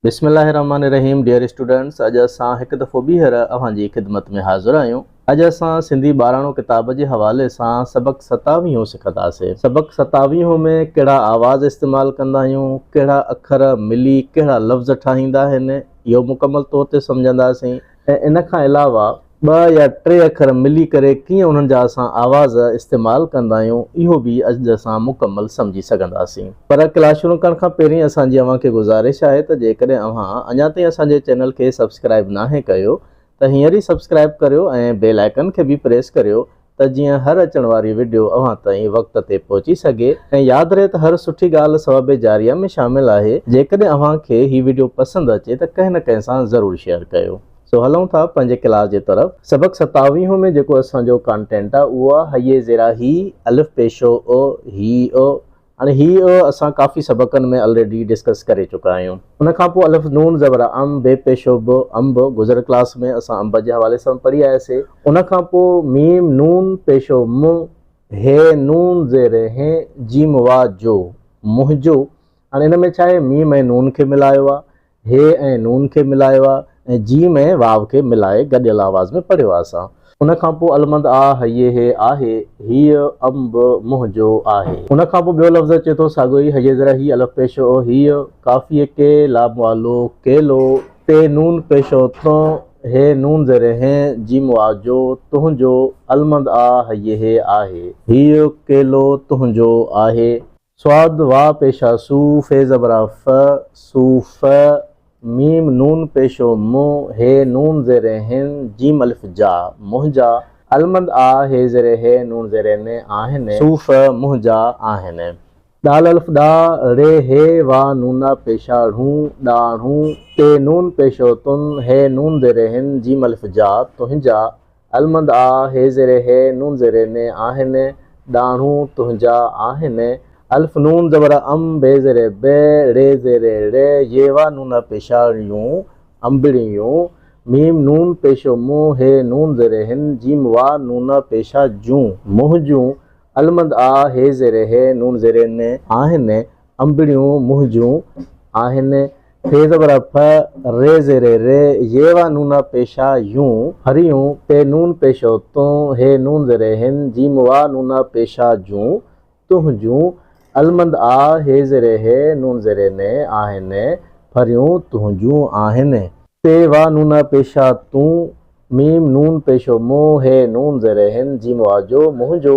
بسم الله الرحمٰن الرحيم ڊيئر اسٽوڊنٽس اڄ اسان هڪ دفعو ٻيهر اوهان جي خدمت ۾ حاضر آهيون اڄ اسان سنڌي ٻاراڻو ڪتاب جي حوالي سان سبق ستاويهون سکنداسي سبق ستاويهون ۾ ڪهڙا آواز استعمال ڪندا آهيون ڪهڙا اکر ملي ڪهڙا لفظ ٺاهيندا آهن اهو مڪمل طور تي سمجهنداسين ۽ ان کان علاوه ٻه يا ٽي اکر ملي ڪري ڪيئن انهن جا اسان آواز استعمال ڪندا آهيون اهو به اڄ اسان مڪمل سمجهي سگهنداسين پر ڪلاس شروع ڪرڻ کان پهرين اسان جي اوهان کي گذارش آهي ته جيڪڏهن اوهان اڃا تائين اسان جي چينل کي سبسڪرائب ناهي ڪيو ته هينئر ئي سبسڪرائب ڪريو ۽ بيل آئڪن کي به پريس ڪريو ته جيئن هر اچڻ واري وڊيو اوهان تائين وقت تي پهچي سگهي ۽ ياد رهي ته هر سٺي ڳالهه ثواب جاريه ۾ شامل آهي جيڪڏهن اوهان کي هي وڊيو پسند اچي ته ڪنهن نه ڪنهن سان ضرور شيئر ڪيو سو هلون ٿا پنهنجي ڪلاس جي طرف سبق ستاويهون ۾ جيڪو اسان جو ڪانٽينٽ آهي اهو آهي هيء زيرا هي الف پيشو او هي او هاڻي هي اسان ڪافي سبقن ۾ الريڊي ڊسڪس ڪري چڪا آهيون. ان کان پوء الف نون زبر ا ام بي پيشو ب انب گذريل ڪلاس ۾ اسان انب جي حوالي سان پڙهي آياسي. ان کان پوء ميم نون پيشو م ه نون زير ه جيم واء جو منهنجو هاڻي ان ۾ ڇا آهي ميم ۽ نون کي ملايو آ هي ۽ نون کي ملايو آ ۽ جيم ۽ واو کي ملائي گڏيل آواز ۾ پڙهيو آ اسان. ان کان پوء المند آ هيي هي آهي هيء انب منهنجو آهي. ان کان پوء ٻيو لفظ اچي ٿو ساڳيو ئي هيء زرا هي الف پيش او هيء قافيء ڪي لام والو ڪيلو پي نون پيش او تون هي نون زير هين جيم وا جو تنهنجو المند آ هيي هي آهي هيء ڪيلو تنهنجو آهي. صاد واء پيشا سو فيض ابرا ف سو ف م نون پيشو م ه نون زير هن ج الف جا منهنجا المند آ ه زير هي نون زير ن آهن سو ف منهنجا آهن ڏ الف ڏا ڙ ه واء نونا پيشا ڙون ڏا ڻون ٽي نون پيشو تون هي نون زير هن ج الف جا تنهنجا المند آ هي زير هي نون زير ني آهن ڏاڙهون تنهنجا آهن الف نون زبر ام بي زير بي ڙي زير ڙي يي وا نون پيشاڻيون انبڙيون ميم نون پيشو مون هي نون زير هن جيم وا نون پيشا جون منهنجون المند آ هي زير هي نون زير ني آهن انبڙيون منهنجون آهن في زبر ف ري زير ر يي وا نون پيشه يون هريون پي نون پيشو تون هي نون زير هن جيم وا نون پيشه جون تنهنجون المند آ هي زير هي نون زير ن آهن ڦريون تنهنجون آهن پي وا نون پيشه تون ميم نون پيشو مون هي نون زير هن جيم وا جو منهنجو